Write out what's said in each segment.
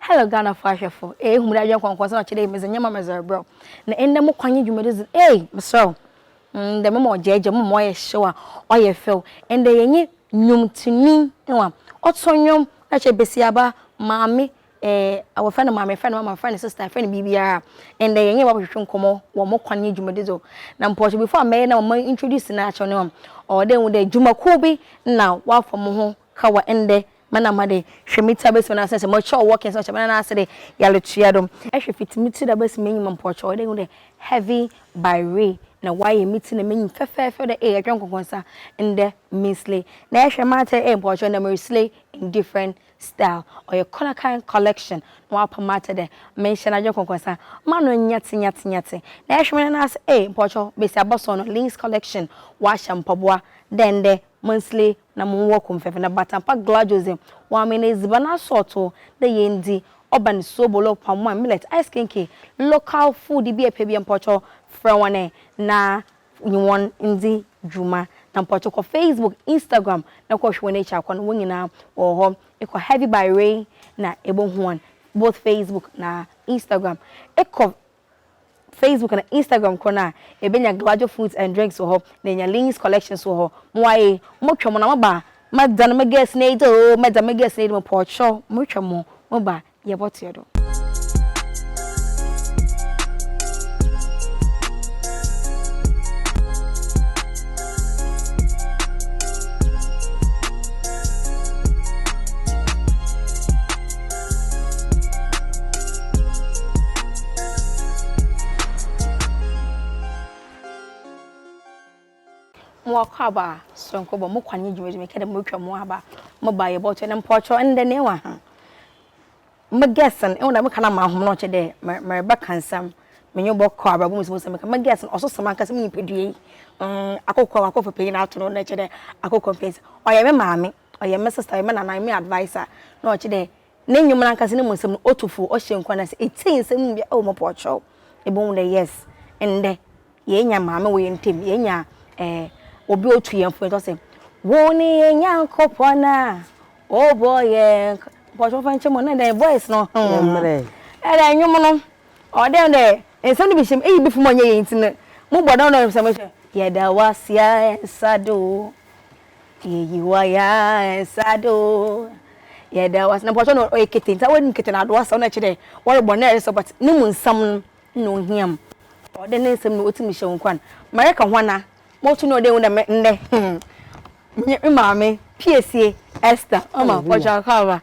Hello Ghanafo ahwɛfo ee hom dɛ kɔnkɔn sɛ ɔkyerɛ yi medze nyɛma medze rebrɛ wo na ndɛ mo kwan nye dwumadzi dze ee meserɛ wo ndɛ mema ɔgyaagyaa mu mema ɔyɛ hyew a ɔyɛ fɛw ndɛ yɛnye nwomtonyi ewa ɔto nwom na kyerɛ basiaba maame ee wɔfrɛ no maame yɛfrɛ no mama yɛfrɛ no sister yɛfrɛ no biribiara ndɛ yɛnye wo abɔhwehwe nkɔmɔ wɔ mo kwan nye dwumadzi do na mpɔkyɛ before a mɛyɛ na ma introduce no akyerɛ no ɔwɔ dɛ ehu dɛ dwumakuw bi na wɔafa moho kawa ndɛ ma na ma de hwɛ me tsi abesi ɔnansa sɛ mɔkyɛ ɔwɔ kɛse ɔkyɛ me na nase de yale tua do hwɛ fitsi me tsi do abesi m'enyim mpɔkyɛ ɔyɛ dɛ ehu dɛ heavy by re na ɔayɛ me tsi na m'enyim fɛfɛɛfɛ ɔyɛ dɛ ee ɛtwɛn kɔnkɔnsa ndɛ me slay na ɛhwɛ m'atar ee mpɔkyɛ ndɛ mere slay in different style ɔyɛ kɔnakan collection na ɔapa m'atar dɛ me nhyɛ na adwen kɔnkɔnsa m'ano nyɛtse nyɛtse nyɛtse na ɛhwɛ me na nase ee mpɔkyɛ besiabɔ sɔn no links collection ɔahyɛ mpaboa dɛ ndɛ mon slay na mo wɔ kom fɛfɛ na bata pa glajos dɛ wɔn me na edziban asɔɔtoo dɛ yɛn dzi ɔba no soobolo pamoa millet ice kenke local food bi a epɛ bia mpɔkyɛw frɛ wɔn ɛ na nye wɔn ndzi dwuma na mpɔkyɛw kɔ facebook instagram na kɔ hwɛ wɔn ekyir akɔ no wɔn nyinaa wɔwɔ hɔ ekɔ heavy by ray na ebohu wɔn both facebook na instagram ekɔ Facebook anaa Instagram korɔ no a, ebenya Glawajo Foods and Drinks wɔ hɔ na enya Lean's Collection nso wɔ hɔ. Moa ee, motwa mu na moba a, mɛdan me girls no adi oo, mɛdan me girls no adi, mepɛ ɔkyerɛw, motwa mu, moba a, yɛbɔtoɛ do. mowakɔ aba soronko bɔ mokwa ne dwuma dwuma kɛdɛ motwa mo aba moba yɛ bɔtɔ ne mpɔtɔ ndɛ ne wa ha mo gɛsen ɛwɔ dɛ mo kana ma ahom na ɔkyɛ dɛ mɛrɛ bɛ kansam menyo bɔ kɔ aba bɔ mo sɛ mo sɛ meka mo gɛsen ɔso sɛ mankasa mo nipadua yi mm akokɔ akɔ fɛ panyin ato no na kyɛ dɛ akokɔ fɛs ɔyɛ me maame ɔyɛ me sista, ɔyɛ me nana, ɔyɛ me adviser na ɔkyerɛ dɛ ne ndwom no ankasa no mu nsɛm no otu fo, ɔhyɛ nkuran na sɛ itsie nsɛm no mu bi a oh mopɔ ɔkyerɛw. Ibohu dɛ yes ndɛ yeenya maame wɔ hɛn ntamu, yeenya eh obi a otu hɛn fo, yɛtɔ sɛ Wo ne yɛn Nyankopɔn a ɔbɔ yɛn kra Mopɔ ɔkyerɛw fa nkyɛ mu o, na dɛn voice no hmm. Ɛdɛ ndwom no ɔwɔ dɛ dɛ nsɛm no bi hyɛ mu, eyi bi fom a ɔnnyɛ yie ntsi no mobɔ dɛm na ɔyɛ me sɛ mehyɛ Yɛda wo ase a yɛnsa do o, Yeyi waya nsado. Yɛda wase. Na pɔtɔ no ɔyɛ kete. Nti wɔn kete na adoa sɛ na kyerɛ wɔre bɔ na ɛsɛ but ne mu nsɛm no na ohia mu. Ɔde ne nsɛm na otumi hyɛ wɔn kwan. Mɛrɛ ka hwana mo to no ɔde wɔn dɛm nnɛ hmm. Nye maame piesie Esther ɔma pɔtɔ akɔ aba.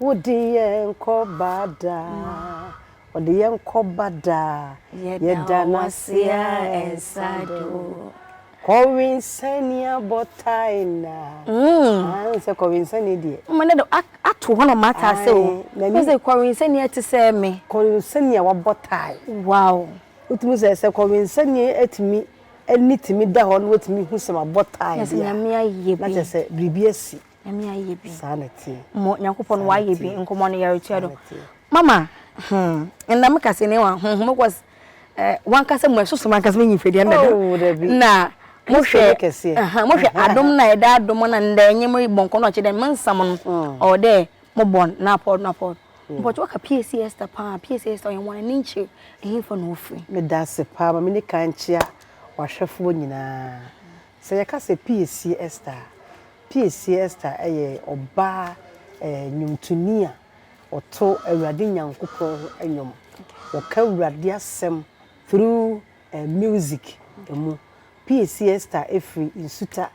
Wode yɛn kɔba daa. Ɔde yɛn kɔba daa. Yɛda no ase a ɛnsa do. Corwin Sania bɔtae na. Ah n sɛ Corwin Sania deɛ. Mma ne de ato hɔ na ɔma ate ase o. Wofɛ sɛ Corwin Sania te sɛ me. Corwin Sania wabɔ tae. Wow. Wotumi sɛ sɛ Corwin Sania atumi ani tumi da hɔ na watumi hu sɛ mabɔ tae deɛ a. Na sɛ Nyame ayɛ bi. Na kyerɛ sɛ biribi asi. nyame ayɛ bi saa na tie mo nyankopɔn wayɛ bi nkɔmɔ no yɛretua do mama hmm ɛnna me kase ne wa hmm mo kɔs eh wankasa mu ɛsoso mankasa me nyimfɛ deɛ ndɛ na mo hwɛ mo hwɛ adom na ɛda adom na ndɛ nye mo bɔnkɔ na ɔkyɛ dɛ me nsam no ɔwɔ dɛ mo bɔn na apɔd na apɔd but waka PAC Esther paa PAC Esther ɔyɛ wɔn ani nkyerɛ ɛhefa na ofiri meda ase paa ma me ne kan kyea wahwɛfoɔ nyinaa Sɛ yɛka sɛ Piesie Esther a, Piesie Esther yɛ ɔbaa nnwontoni a ɔto Awurade Nyankopɔn ho nnwom. Ɔka Awurade asɛm through music mu. Piesie Esther firi Nsuta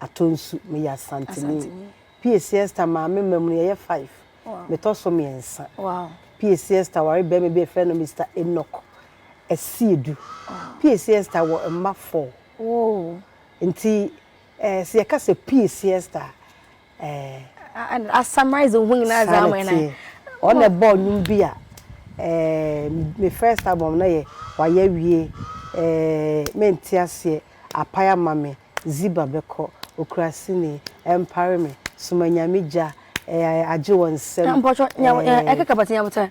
Atonsu. Meyɛ Asanteni. Piesie Esther maame mma mu no yɛyɛ five. Metɔ so mmiɛnsa. Piesie Esther ware barima bi a yɛfrɛ no Mister Enoch Asiedu. Piesie Esther wɔ mma four. Oh, nti eh, sɛ yɛka sɛ pii siesta a, eh, a summarize ho nyinaa dza ama na ɔn na ɛbɔɔ nnwom bi a eh, me first album na yɛ wayɛ awie eh, mente aseɛ apae ama me ziba bɛkɔ okura sini ɛmpare me soma nyame gya eh, agye wɔ nsam eh, mpɔtɔ eh, ɛkeka bɔtɔ nyabotɛ.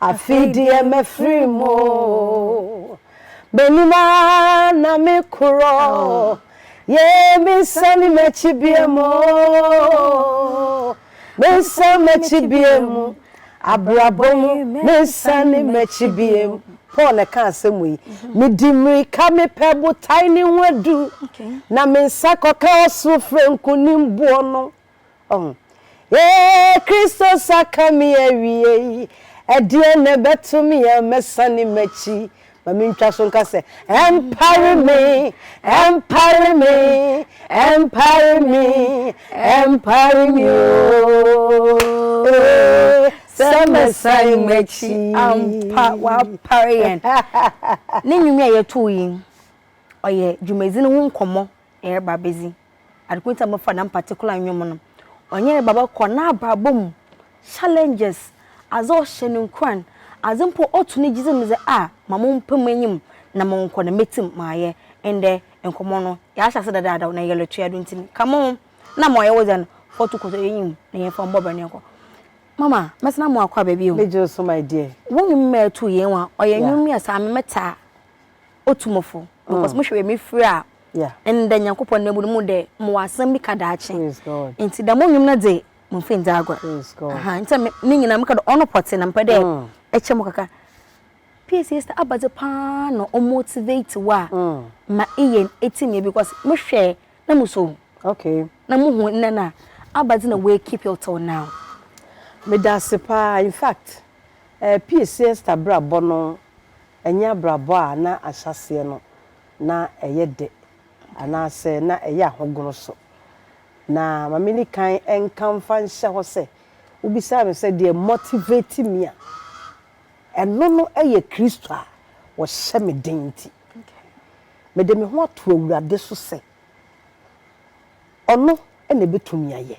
Afei deɛ mafiri mu M'anim ara na mekorɔ Yɛ mensane m'akyi bie mu Mensane m'akyi bie mu Abrabɔ mu mensane m'akyi bie mu Paul na ɛka asɛm yi Medi mmirika mepɛ botae ne ho adu Na me nsa kɔka ɔsoro frɛ nkonimboɔ no Oh, yeah, Kristo sa ka me awiei. Ɛdeɛn na ɛbɛto me a mɛsane m'akyi? Ma mentwa so nka sɛ, Ɛmpare me, ɛmpare me, ɛmpare me, ɛmpare me o. Eh, Sɛ mɛsane m'akyi. ampa wapare yɛn ne nnwom yi a yɛtoo yi ɔyɛ dwumadzi no ho nkɔmmɔ Ereba bedzi Adekuntu a wɔfa dɛm particular ndwom no, ɔnye Ereba bɔkɔ n'abrabɔ mu challenges, adze ɔhyɛ no nkuran, adze mpo a ɔto ne gyedzi mu dze a ma mommpa mu enyim na monkɔ na metsim mayɛ ndɛ nkɔmbɔ no yɛahyɛ ase dadaada na yɛyɛ lɔtoa do ntsi ka mo ho na ma ɔyɛ wo dza no fɔtu kɔ tɔ enyim na yɛmfa mbɔ bra na yɛnkɔ. Mama, mɛsena mo akɔ aba bio. Megye wo so my dear. Wo nnwom mma ɛto yɛn wa ɔyɛ nnwom mmiɛsa a me mɛtaa otu mo fo because mohwɛ wei mefiri a ndɛ nyankopɔn na mu no mu dɛ mowɔ asɛm bi ka daakye nti dɛm nnwom no dze momfa ndzi agor nti ne nyinaa meka dɛ ɔno pɔtee na mepɛ dɛ ɛkyɛ mo kakra PSA star aba dze paa na ɔmotivate wo a ma eyɛ ɛtim yɛ because mehwɛ na muso na muhu nnɛ no a aba dze na woekeep you till now Meda ase paa infact PSA star brabɔ no Ɛnyɛ abrabɔ a na ahyɛaseɛ no na ɛyɛ dɛ anaasɛ na ɛyɛ ahogono so. Na ma menni kan nka mfa nhyɛ hɔ sɛ, wobisaa me sɛ deɛ motivate me a, ɛno no yɛ Kristo a ɔhyɛ me den nti. Mede me ho ato Awurade so sɛ Ɔno na ɛbɛtumi ayɛ.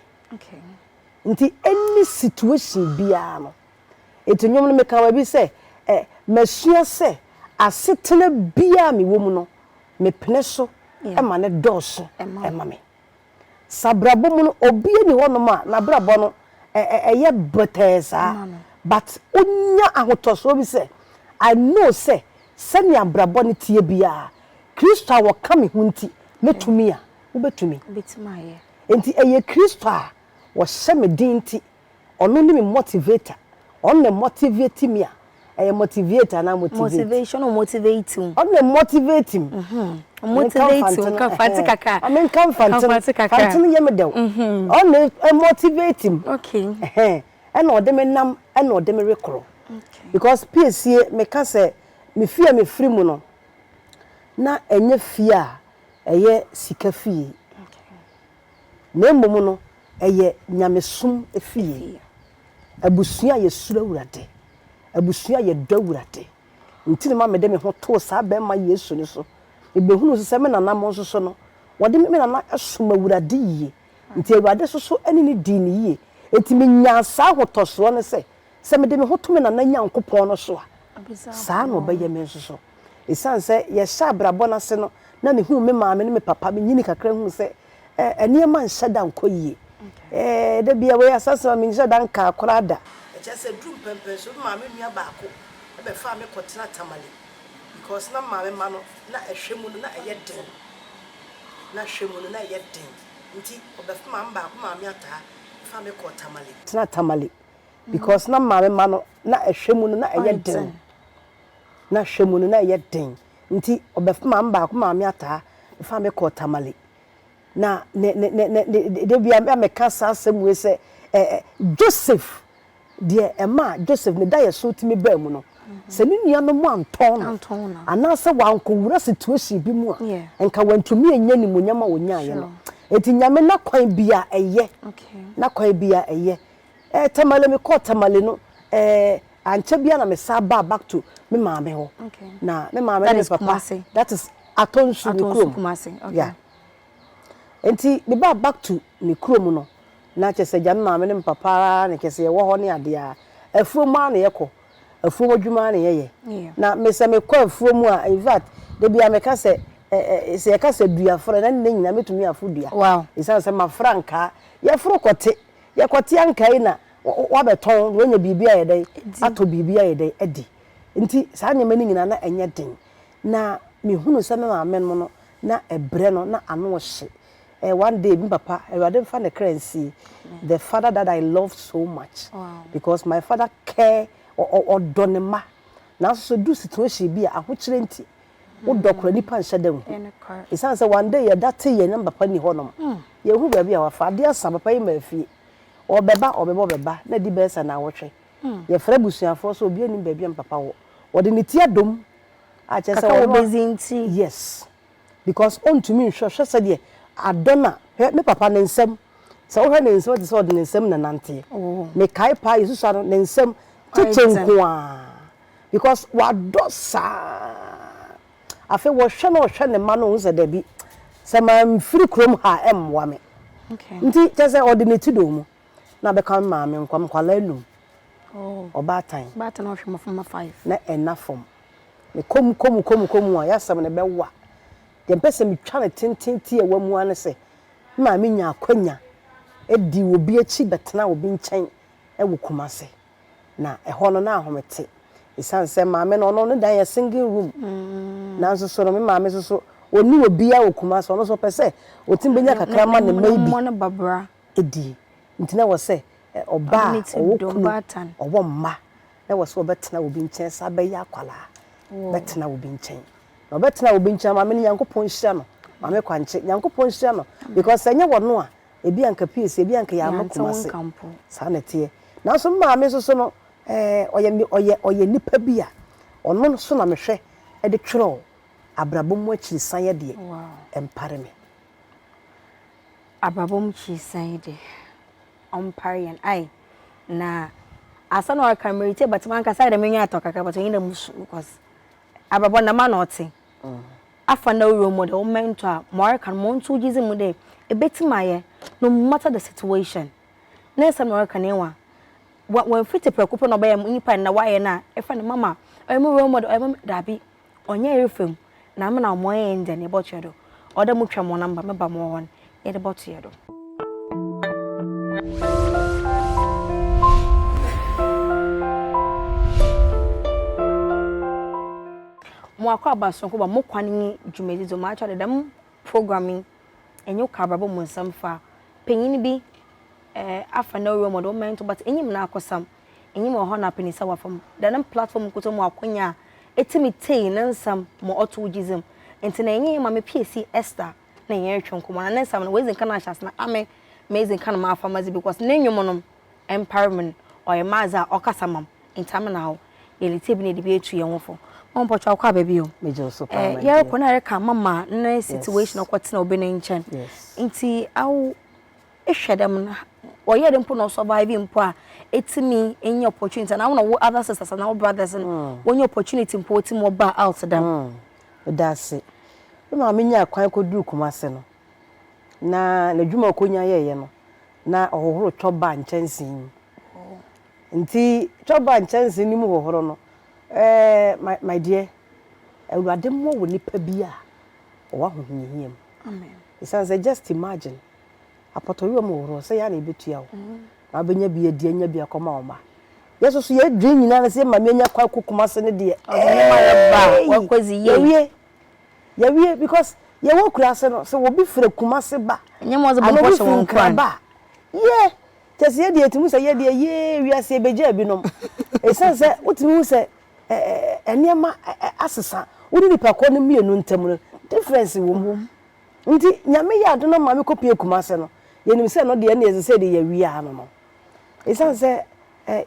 Nti any situation biara no, Enti nnwom no, mekaa baabi sɛ, Ɛ, masua sɛ asetena biara a mewɔ mu no, mepene so ma no dɔɔso ma me. Sɛ abrabɔ mu no, obiara nni hɔnom a n'abrabɔ no yɛ bɛtɛɛ saa, but wonya ahotɔsoɔ bi sɛ, I know sɛ sɛnea abrabɔ no teɛ biara, Kristo a ɔka me ho nti, mɛtumi a, wobɛtumi. Enti ɛyɛ Kristo a ɔhyɛ me den nti Ɔno ne me motivator. Ɔno na motivate me a. Ɛyɛ motivate anaa motivate? Motivation, ɔ motivate wo. Ɔno na motivate me. Ɔ motivate wo, ka Mfantse kakra. Ɔ menka Mfantse no, Mfantse no yɛ me dɛw. Ɔno na motivate me. Okay. Ɛna ɔde me nam, ɛna ɔde me rekɔ. Because piesie, meka sɛ me fie a mefiri mu no, na ɛnyɛ fie a ɛyɛ sika fie. na mmom no, ɛyɛ nyamesom fie, abusua a yɛsuro Awurade, abusua a yɛdɔ Awurade. Nti na ɛma mede me ho too saa barima Yesu no so. Mebɛhunuu nso sɛ me nana mo nso so no, wɔde me nana som Awurade yie. Nti Awurade nso so ne no dii no yie. Nti menyaa saa ahotɔsoɔ no sɛ, Sɛ mede me ho to me Nana Nyankopɔn no so a, saa ara na ɔbɛyɛ me nso so. Esiane sɛ yɛhyɛ abrabɔ no ase no, na mihuu me maame ne me papa, minyinii kakra huu sɛ nneɛma nhyɛ da nkɔ yiye. Da biara wei asɛ asɛm a menhyɛ da nkaa koraa da. Ɛkyerɛ sɛ eduu mprempren nso, me maame nua baako bɛfaa me kɔtenaa Tamale because na maame mma no, na hwɛ mu no na ɛyɛ den. Na hwɛ mu no na ɛyɛ den nti, ɔbɛf maame baako, maame ataa, faa me kɔɔ Tamale. Tenaa Tamale because na maame mma no na ɛhwɛ mu no na ɛyɛ den na hwɛ mu no na ɛyɛ den nti ɔbɛfa maame baako maame ataa fa me kɔɔ tamale na ne ne ne ne ne de bia mɛka saa asɛm wei sɛ ɛɛ joseph deɛ ɛma joseph ne da yɛ so tumi baa mu no sɛ ne nuanom antɔn no anaasɛ wankɔwura situation bi mu a nka wantumi anya ne mu nyama ɔnyaeɛ no ɛti nyame na kwan bi a ɛyɛ na kwan bi a ɛyɛ eh, Tamale me kɔɔ Tamale no eh, ankyɛ bia na me san baa back to me maame hɔ okay. na me maame ne me papa Kumasi. that is Atonsu ne kurom Kumasi okay. yeah. nti me baa back to ne kurom no na kyɛ sɛ gya me maame ne me papa ara na kyɛ sɛ yɛwɔ hɔ ne adeɛ a afuom ara na yɛkɔ afuom adwuma ara na yɛyɛ yeah. na me sɛ mekɔ afuom a in fact da bia meka sɛ Eh, eh, eh, sɛ yɛka sɛ duafrɛ na ne nyina mɛtumi afo dua ɛsiane sɛ mafra nkaa yɛforo kɔte Yɛkɔtea nkae na wabɛtɔn na wanya biribi ayɛ dɛn, atɔ biribi ayɛ dɛn, adi. Nti saa nneɛma no nyinaa na ɛnyɛ den. Na mehunu sɛ me maame nom no, na ɛbrɛ no, na ano hye. Eh, one day me papa, Awurade mfa ne kra nsie, the father that I loved so much, because my father care, ɔ, ɔ, ɔdɔ ne mma. Nanso sɛ odu situation bi a, ahokyerɛ nti, Wo dɔ kora nipa nhyɛ da nhu. Esiane sɛ one day yɛda te yɛn na papa nni hɔnom. Yɛnhu baabi a wafa. Adeɛ asa, papa yi mmaa fie. Ɔbɛba, ɔbɛba, ɔbɛba, na adi bɛyɛ sɛ naawɔtwe. Yɛfrɛ abusuafoɔ sɛ obiara nnim baabi a me papa wɔ. Ɔde ne ti adom a kyerɛ sɛ ɔno a. Kaka wɔ base nti. Yes. Because ɔntumi nhwɛ, hwɛ sɛdeɛ adɔ no a, hwɛ me papa ne nsam. Sɛ wohwɛ ne nsam a ɛte sɛ ɔde ne nsam na ɛnanteɛ. Mekae paa, yɛsusua no, ne nsam, kyekyɛ nko ara. Because wadɔ saa. Afei wɔhwɛ na ɔhwɛ ne mma no ɔhu sɛ dabi, sɛ mamfiri kurom ha a ɛmmoa me. Nti kyerɛ sɛ ɔde ne ti dɔɔ mu. Na bɛka me maame nkwa nkwadaa anum. Ɔbaatan. Ɔbaatan na ɔhwɛ mmɔframma five. Na ɛnna fam. Mekɔ mu kɔ mu kɔ mu kɔ mu a yɛ asɛm no bɛwa. Deɛ mepɛ sɛ metwa no tenten tiawa mu ara ne sɛ, me maame nyaa akwanya dii obi akyi bɛtenaa obi nkyɛn wɔ Kumasi. na ɛhɔ no na ahome te ɛsiane sɛ maame no ɔno ne dan yɛ singing room nanso so no me maame so so ɔni obiara wɔ kuma sɛ ɔno so ɔpɛ sɛ ɔtumi bɛnya kakra ma ne mma bi ɛdi nti na wɔ sɛ ɔbaa ɔwɔ kunu ɔwɔ mma na wɔ sɛ ɔbɛtena obi nkyɛn saa bɛyɛ akwalaa bɛtena obi nkyɛn na ɔbɛtena obi nkyɛn maame no nyankopɔn nhyira no maame kwankye nyankopɔn nhyira no because ɛnyɛ wɔ no a Ebi a nka PAC, ebi a nka yɛamma Yɛante wo Kumasi. nka mpo. Saa na ɛteɛ. Nanso me maame nso so no, eh, ɔyɛ, me- ɔyɛ, ɔyɛ nnipa bi a ɔno nso na mehwɛ de twerɛw abrabɔ mu akyirisan yɛ deɛ Wow. ɛmpare me. Abrabɔ mu kyirisan yi de, ɔmpare yɛn. Ai, na asɛm na waka no, meretie but mankasa ayɛ dɛ m'enyi atɔ kakra but ɔnye dɛ musu because abrabɔ no dɛm ara na ɔtse. afa na wo role model, wo mentor a, ma ɔreka no ma ɔnto wo gyedzi mu dɛ ebetsim ayɛ no matter the situation. Ne nsɛm na ɔreka no ewa. Wa wɔmmfi tse prɛko pɛ na ɔbɛyɛ mo nyimpa na wɔayɛ no a efrɛ no mama, ɔyɛ mo role model, ɔyɛ mo me dabi, ɔnnyɛ yerfamu na ama no ahoɔyen dɛ ne bɔtoa do. Ɔwɔ dɛ motwa mo namba, meba mowɔ hɔ no. yɛde bɔto yɛ do. Mo akɔ aba sonko ba mo kwan nye dwumadzi dze mo akyɛ dɛ dɛm program yi enye wo ka abrabɔ mu nsɛm fa panyin bi eh, afa na role model ma nto but enyim n'akosam, enyim ɔhaw na apɛnisa a ɔafa mu. Dɛ no platform nkotsee mu akwanya a etsimi tsei ne nsɛm ma ɔtoo gyedzi mu ntsi na enye Maame Piesi Esther na hɛn rotwe nkɔmbɔ na ne nsɛm no oedzi nkan ahyɛ ase na ame medzi nkan mafa medze because ne nwom no mmpar me no ɔyɛ m'adze a ɔkasa ma m' ntsi ame na awo yɛretsie bi na yɛdze bi etu hɛnho fo. Mama mpɔkyɛ ɔkɔ aba bio? Megye wo so paa my dear. Yɛrokɔ na ereka ama ma ne situation ɔkɔtsena obi ne nkyɛn ntsi awo ehwɛ dɛm no ɔyɛɛ dɛ mpo na ɔsurvive mpo a etumi enya opportunity anaa wo na wo other sisters anaa wo brothers no wonya opportunity mpo otsim wɔbaa out dɛm. Meda ase. Me maame nyaa kwan kɔduruu Kumase no, na n'adwuma a ɔkɔnya yɛeɛ no, na ɔhohoro chopbar nkyɛnsee mu. Nti chopbar nkyɛnsee no mu hohoro no, eh, my, my dear, Awurade mmɔ wo nipa bi a ɔwɔ ahohiahia mu. Ɛsiane sɛ just imagine, apɔtɔyowa mu hohoro, sɛ yɛ a na yɛbɛtua wo. na wobɛnya bi adi anya bi akɔma wo mma. Yɛ so so yɛ dwen nyinaa ne sɛ yɛma me anya kwan kɔ kumase ne deɛ eii yɛwie yɛwie because yɛ wɔ kurase no sɛ obi frɛ kumase ba anaa obi frɛ nkra ba yɛ kyɛ sɛ yɛ deɛ yɛtumi sɛ yɛ deɛ yee wiase yɛ bɛgya bi nom ɛsiane sɛ wotumi hu sɛ ɛɛ nneɛma asesa wo ne nipa koro no mmienu ntam no difference wɔ mu Ntsi Nyame yɛɛ adom na ɔmaa me kɔpuee Kumase no, yɛnyim sɛ no deɛ nna yɛdze sɛ de yɛawia ano no. Esiane sɛ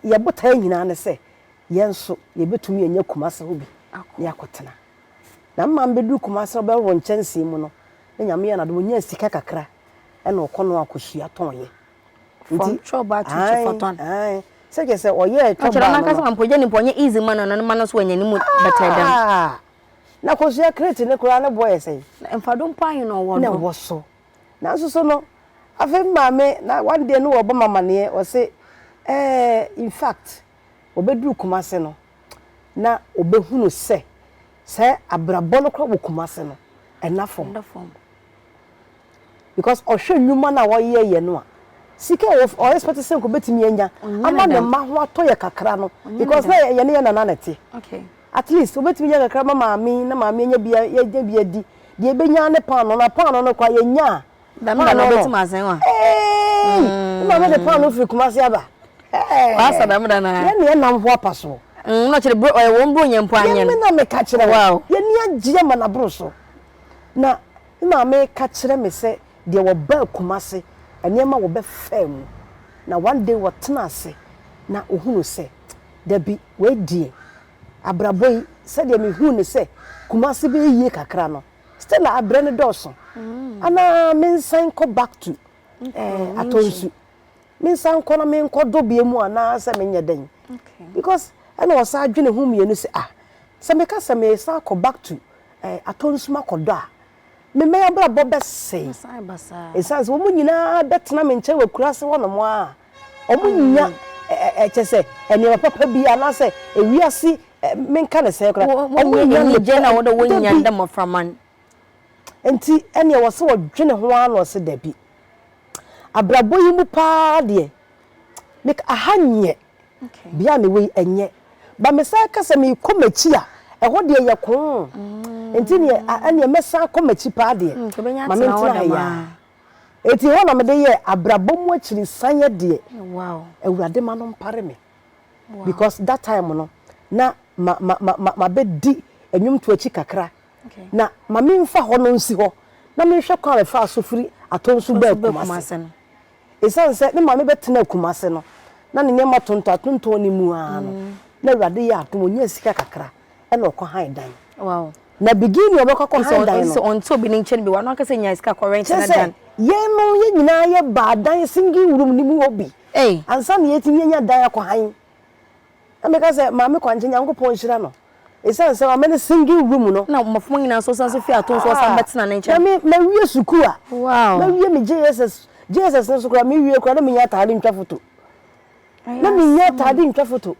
yɛ botae nyinaa ne sɛ yɛn so yɛbɛtumi anya Kumase hɔ bi na yɛakɔtena. Na me maa mebɛduru Kumase no bɛhorow nkyɛnsee mu no, na Nyame yɛɛ no adom ɔnyaa sika kakra na ɔkɔ no akɔsua tɔnyɛ. Ntsi, From chop bar to ae, chopatɔn. ae, sɛ kyerɛ sɛ ɔyɛɛ chop Ɔkyerɛ bar no no. n'ankasa mpo, gye ne mpo ɔnyɛ easy mma no na ne mma no nso anya ne mu bɛtɛɛ dɛm. Aah! na kosua kreti no koraa ne boɔ yɛ sɛn? Na mfado mpo ahe na ɔwɔ no? Na ɛwɔ so. Nanso so no, afei me maame, na one day no wɔrebɔ me amaneɛ, ɔse, ɛɛ, in fact, wɔbɛduru Kumase no, na wɔbɛhunu sɛ, sɛ abrabɔ no koraa wɔ Kumase no, ɛnna fam. Ɛnna fam. because ɔhwɛ nnwuma no a wɔyɛ yɛ no a sika a ɔ expect sɛ nka obetumi anya ama ne mma ho atɔ yɛ kakra no because na yɛ ne yɛ nana na ɛte at least obetumi nya kakra ma maame na maame anya bi yɛnya bi adi deɛ ebenya ne paano na paano no kɔ a yɛnya a dɛm na na obetumi asɛn wa ee mm. maame de paano firi kumase aba ɛɛ wasa dɛm da na yɛ ne yɛ nam ho apa so mm, na kyerɛ bro ɔyɛ wɔn bro nyɛ mpo anyɛ no yɛ me na meka kyerɛ wa yɛ ne agye ama na bro so na Me maame ka kyerɛ me sɛ deɛ wɔbaa Kumasi nneɛma wɔbɛfaa mu na one day wɔtena ase na ɔhunu sɛ dabi wei deɛ abrabɔ yi sɛdeɛ me huu no sɛ Kumasi bɛyɛ yie kakra no Stella abrɛ no dɔɔso anaa mensan nkɔ back to Atɔnsu. mensan nkɔ na menkɔ dɔ bia mu anaa sɛ menyɛ dɛn because ɛna ɔsan dwene ho mmienu sɛ ah sɛ meka sɛ mesan akɔ back to eh, atɔ nsum akɔ dɔ a memɛyɛ abrabɔ bɛsɛe ɛsiane sɛ wɔn nyinaa bɛtena me nkyɛn wɔ kura ase hɔnom a wɔn nya ɛkyɛ sɛ nneɛma papa bi anaasɛ ewiase menka ne sɛ koraa wɔn nya ne gye na wɔde wɔn nya dɛ mmɔfra man Enti ɛnneɛ ɛwɔ sɛ ɔdwene ho ara na ɔse dabi. Abrabɔ yi mu paa deɛ, me aha nyɛ bea a mewɔ yi ɛnyɛ. But mesan ka sɛ mekɔ m'akyi a, ɛhɔ deɛ yɛ koo. Enti neɛ ɛnneɛ mɛsan akɔ m'akyi paa deɛ, ma mentena ha yi ara. Enti ɛhɔ na mede yɛɛ abrabɔ mu akyirisaneɛ deɛ, Awurade ma no mpare me. Because that time no, na mabɛdi nnwomtoɔ akyi kakra. na ma memfa hɔ no nsi hɔ na menhwɛ kwan a mefaa so firi Atonsu baa Kumase no. Ɛsiane sɛ me maame bɛtenaa Kumase no, na ne nneɛma tontɔn atontɔn no mu ara no, na Awurade yɛɛ adom, ɔnyaa sika kakra na ɔkɔhan dan. Na beginning a ɔbɛkɔ akɔhan dan no, kyerɛ sɛ yɛnom yɛn nyinaa yɛbaa dan singing room no mu hɔ bi ansa na yɛatumi anya dan akɔhan. Na meka sɛ, Maame Kwangye, Nyankopɔn nhyira no. Esiane sɛ wama no singing room no. Na mmofra nyinaa nso san nso fii atom so wɔsan bɛtena ne nkyɛn. Na me, mawie sukuu a. Wow. Mawie me JSS. JSS no nso koraa, mewie koraa na mennya ataade ntwa foto. Na mennya ataade ntwa foto.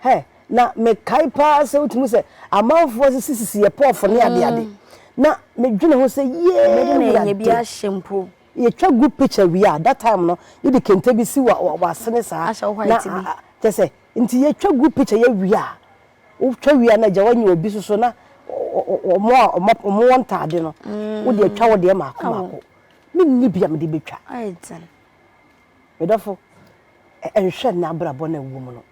Hɛ, na mekae paa sɛ wotumi hu sɛ amanfoɔ asisisisi yɛn pɔɔfo ne adeade. Na medwene ho sɛ, Yee, Awurade. Mede na ɛnyɛ bi ahyɛ mpo. Yɛtwa group picture wie a, that time no yɛde kente bi si w'asene saa na kyerɛ sɛ nti yɛtwa group picture yɛ wie a, wotwa wie a na gya w'anya obi nso so na wɔn a wɔn wɔ ntaade no wode atwa wo deɛ mako mako. Menni bi a mede bɛtwa. Me dɔfo, nhwɛ nnɛ abrabɔ no a wowɔ mu no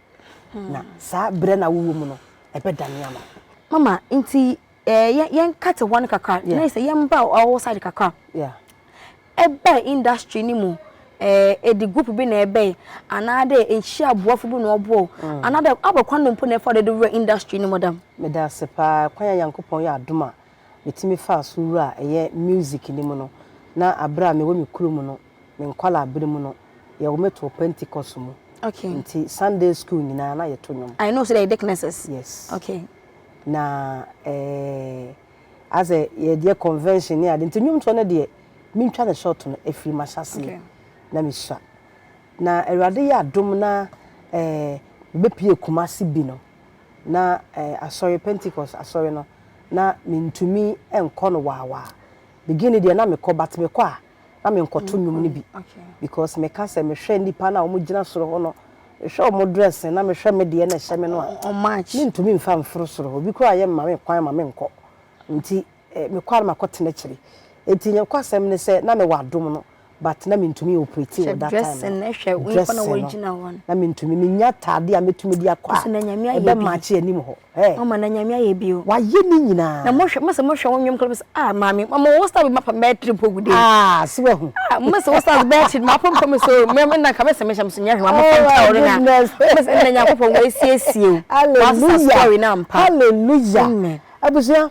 na saa berɛ no a wowɔ mu no ɛbɛdane ama wo. Mama, nti eh, yɛn yɛn kate hɔ no kakra na yɛ sɛ yɛn mba ɔwɔ side kakra ɛbɛ industry ni mu eh, ɛdi group bi na ɛbɛ anaadɛ nhyia aboafo bi na ɔboɔ mm. anaadɛ abɔkwan no mpo na ɛfa ɔde wura industry ni mu dam. meda ase paa kwan a nyankopɔn yɛ adom a metumi faa so wura a ɛyɛ music ni mu no na abere a mewɔ me kuro mu no me nkwala abere mu no yɛwɔ mɛto pentecost mu okay. nti sunday school nyinaa na yɛto nnwom i know so that yɛ dicknesses yes okay. na ayɛ sɛ yɛyɛ convention ne ade nti nnwomtoɔ no deɛ mentwa no short no ɛfiri mahyɛaseɛ na mehyira na awurade yɛ adom na mebɛpie Kumasi bi no na asɔre Pentecost asɔre no na mentumi nkɔ no waawaa beginning deɛ na mekɔ but mekɔ a na menkɔto nnwom no bi because meka sɛ mehwɛ nnipa no a wɔgyina soro hɔ no mehwɛ wɔn dressing na mehwɛ me deɛ na ɛhyɛ me no a mentumi mfa mforo soro hɔ obi koraa yɛ mma me kwan ma menkɔ nti eh, mekɔ a na makɔtena akyiri nti nyɛnkɔ asɛm ne sɛ na mewɔ adom no but na mentumi operate wɔ that time dressing no na mentumi menya taade a metumi de akɔ a ɛbɛmakye anim hɔ Ɛ. Mama na Nyame ayɛ bi o. Wayɛ ne nyinaa. Na mo hwɛ mo sɛ mo hwɛ wo nwom kra bi sɛ ah maame mama wo style bi ma pam bɛyɛ tri mpo gu dei. Ah so wahu. Ah mo sɛ wo style bɛyɛ tri ma pam pam me so me na nka me sɛ me hyɛ me so nyɛ hwɛ ma mo fam kyɛ ɔre na. Me sɛ na Nyankopɔn wa asiesie o. Hallelujah. Wa sa story na ampa. Hallelujah. Amen. Abusua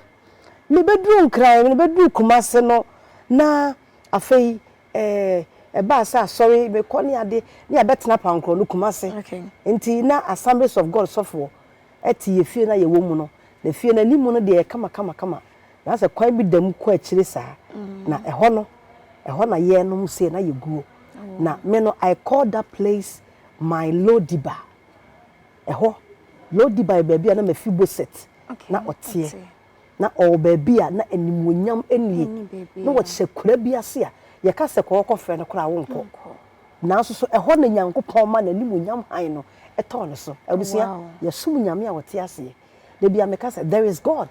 me bɛ duru nkran me bɛ duru kumase no na afei eh ɛbaa sɛ asɔre me kɔ ne ade ne yɛ bɛ tena pankoro no kumase. Okay. Nti na assemblies of God sɔfoɔ. te yɛn fie no a yɛwɔ mu no, na fie no anim no deɛ ɛyɛ kamakamakama, na asɛ kwan bi da mu kɔ akyire saa, na ɛhɔ no, ɛhɔ na yɛnom sei na yɛguo. Na me no, I call that place my Lodiba. Ɛhɔ, Lodiba yɛ baabi a na Mephiboset na ɔteɛ. na ɔwɔ baabi a na animuonyam nnie, na ɔkyɛ kura bi ase a yɛka sɛ kɔ hɔ kɔfrɛ no koraa a wonkɔ. Nanso so ɛhɔ na Nyankopɔn ma n'animuonyam hann no tɔɔ ne so? Abusua, yɛsom Nyame a ɔte aseɛ. Da bi a meka sɛ there is God.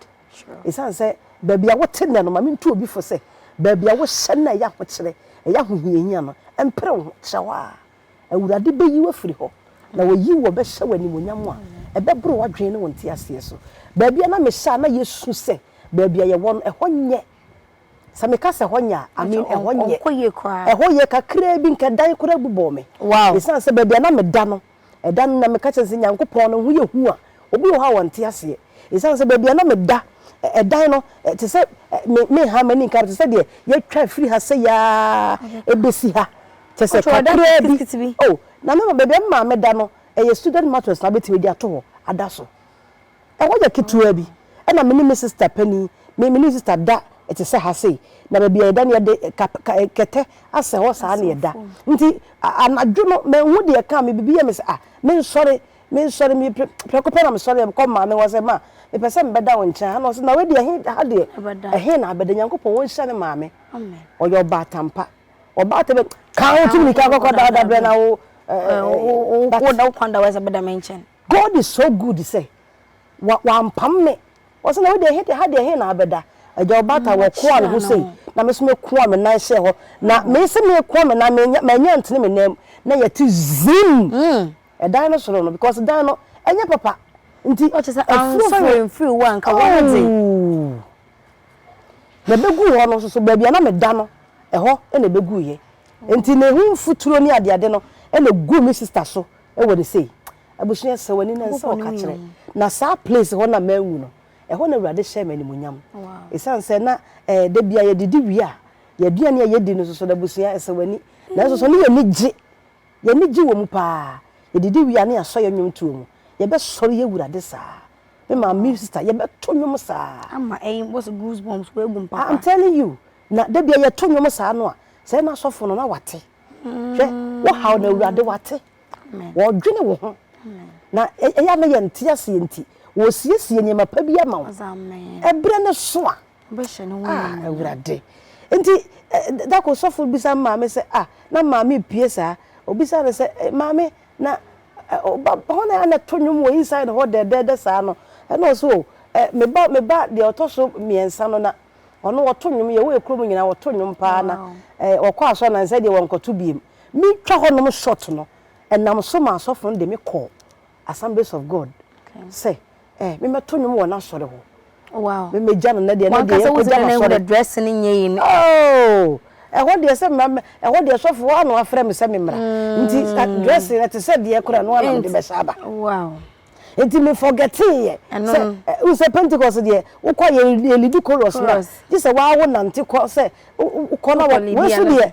Ɛsiane sɛ baabi a wote nnɛ no, ma mentu obi fo sɛ, baabi a wohyɛ no a ɛyɛ ahokyerɛ, ɛyɛ ahohiahia no, mpere wo ho, tra hɔ ara. Awurade bɛyi wo afiri hɔ, na wayi wo abɛhyɛ wo animuonyam a ɛbɛboro w'adwene ne wo nteaseɛ so. Baabi a na mehyɛ a na yɛsu sɛ baabi a yɛwɔ no, ɛhɔ nyɛ. Sɛ meka sɛ ɛhɔ nyɛ a, I mean ɛhɔ nyɛ. Ɛhɔ yɛ kakraa bi, nka dan koraa bu bɔɔ me. Ɛsiane sɛ baabi a na meda no, ɛda no na meka kyerɛ no sɛ, Nyankopɔn, ne ho yɛ hu a, obi wɔ hɔ a ɔnte aseɛ. Ɛsiane sɛ baabi a na meda, ɛdan no, te sɛ, me, menha m'ani nka no, te sɛ deɛ yɛatwa afiri ha sɛi ara bɛsi ha. Kyerɛ sɛ kakraa bi, o, na me baabi a me maame da no, ɛyɛ student mattress na wobɛtumi de ato hɔ ada so. Ɛhɔ yɛ ketewa bi. Ɛna me ne me sista panin, me ne me sista da te sɛ ha sei, na baabi a yɛda no yɛde kap ka kɛtɛ asɛ hɔ saa na yɛda. Nti anadwo no manhu deɛ ɛkaa me, biribi yɛɛ me sɛ, ah, mensɔre, mensɔre, me pre prɛko pɛ na mesɔreeɛ kɔɔ me maame hɔ sɛ, ma, mepɛ sɛ mebɛda wo nkyɛn ha. Ɛna ɔse, na wei deɛ ɛhe, ha deɛ ɛhe na abɛda? Nyankopɔn ɔnhyira me maame. Ɔyɛ ɔbaatan pa. ɔbaa tɛ bɛ kaa wo tumi nika kɔkɔ da da brɛ na wo wo da wo kwan da wɔ sɛ bɛda me nkyɛn god is so good sɛ wampam me ɔsɛ na wode he de ha deɛ he na abɛda agya ɔbata wɔ koa ne ho sei na me so me koa me nan hyɛ hɔ na me se me koa me nan menya manya ntene me nan na yɛte zim ɛdan no soro no because dan no ɛnyɛ papa nti ɔkyɛ sɛ afuro furo mfiri wo anka wɔn de Na ebeguu hɔ no nso so, baabi a na meda no, ɛhɔ na ebeguiɛ. Enti na ehu mfuturo ne adeade no na eguu me sista so wɔ ne sei. Abusua, sɛ w'ani na nsa a ɔka kyerɛ. Na saa place hɔ na manwu no, ɛhɔ na Awurade hyɛɛ me animuonyam. Esiane sɛ na eh, da biara yɛdidi wie a, yɛn aduane a yɛdi no nso so no, abusua, ɛsɛ w'ani. Nanso so ne yɛn ani gye, yɛn ani gye wɔ mu paa. Yɛdidi wie a, na yɛasɔ yɛn nnwomtoɔ mu. Yɛbɛsɔre awurade saa. me maame me sister yɛbɛto nnwom saa. ama ɛyi bɔ so goose bumps wɔ egum papa. i'm telling you na dabi a yɛto nnwom saa no a sɛ na asɔfo no na wate hwɛ wɔhaw na awurade wate wɔdwene wo ho na ɛyɛ a na yɛn te aseɛ nti wɔsiesie nneɛma pa bi ama wo ɛberɛ no so a awurade nti dako sɔfo bisa maame sɛ ah na maame pie saa obisa no sɛ maame na ɔba hɔ na na ɛto nnwom wɔ inside hɔ dɛɛdɛɛdɛ saa no, ɛna ɔse o me ba me ba deɛ ɔtɔ so mmiɛnsa no na ɔno ɔto nnwom, yɛwɔ yɛ kurom nyinaa ɔto nnwom paa na ɔkɔ asɔre na nsɛ deɛ wɔnkɔto biem. Me twa hɔ nom short no, ɛnam so ma asɔfo no de me kɔɔ Assemblies of God sɛ eh, me mɛto nnwom wɔ n'asɔre hɔ. Wow. Me megya no na deɛ na deɛ yɛn kɔ gya n'asɔre. Wɔn dress ne nyɛ yi ne. Oh, ɛhɔ deɛ sɛ mɛ ɛhɔ deɛ sɔfo hɔ ano afrɛ me sɛ me mmra. Mm. Nti dress yɛ te sɛ deɛ kora no ana mede bɛsa aba. Wow. Nti me forgetting yɛ. Sɛ n sɛ Pentecost deɛ wokɔ yɛ yɛ lidi chorus na. Gye sɛ waa wo nante kɔ sɛ wokɔ na wɔ wɔn so deɛ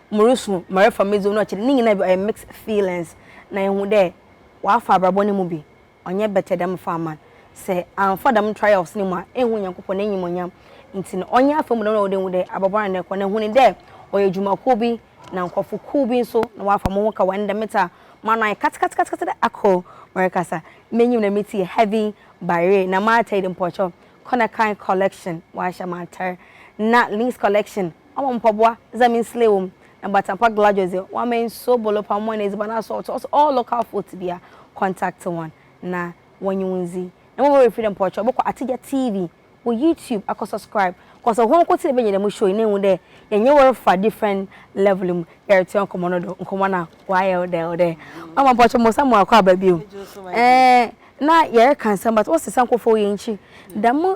morusu ma refa me dzin no akyɛr ne nyina bi ɔyɛ mixed feelings na ehu dɛ ɔafa abrabɔ no mu bi ɔnnyɛ bɛtɛ dɛ mefa ama n' sɛ ammfa dɛm trials no mu a ehu Nyankopɔn n'enyimonyam ntsi no ɔnnyɛ afamu dɛm na ɔwɔ dɛ ehu dɛ abɔbɔr ana ɛkɔ na ehu no dɛ ɔyɛ edwumakuw bi na nkorɔfo kuw bi so na wɔafa moho ka wɔ ndɛ metse a m'ano ayɛ katsekatsekatse dɛ akor merekasa m'enyim na metse yɛ heavy baereee na m'atar yi de mpɔkyɛw kɔ na kan collection wɔahyɛ m'atar na links collection Ɔama mpaboa dza me nslɛ wɔ mu, na bata pa glajɔ dze, ɔama nsuo bolopa mɔn edziban asɔɔto. Ɔse all local folks bia contact hɔn na wɔnye wo ndzi. Na mbom ɔwerɛ fir dɛ mpɔkyerɛ bɔkɔ Atigya TV wɔ YouTube akɔ subscribe cos hɔn nkotsee benya dɛm show yi na ehu dɛ yɛnye wo refa different level mu yɛretoa nkɔmbɔ no do, nkɔmbɔ no a ɔayɛ dɛw dɛ. Ɔama mpɔkyerɛ mo san mu akɔ aba bio. Eeh na yɛreka nsɛm but wɔse san kɔ fa wo yɛnkyi dɛm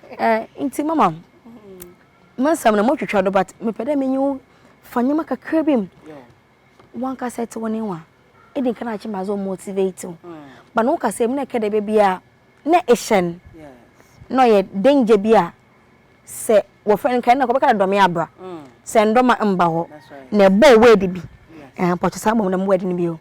Eh nti mama me nsɛm no motwitwa do but mepɛ dɛ menye wo fa nneɛma kakra bi mu wankasa ɛte wo ne wa ɛdi nka na akye ma dze motivate wo mm. ba na wo kasa mu na ɛka dɛ baabi a na ɛhyɛn na ɔyɛ danger bi a sɛ wɔfrɛ no nka ɛna kɔbɛka dɛ dɔme abra mm. sɛ ndɔma mba hɔ na ɛbɔ word bi mpɔkyɛ saa bɔ mu dɛm word no bio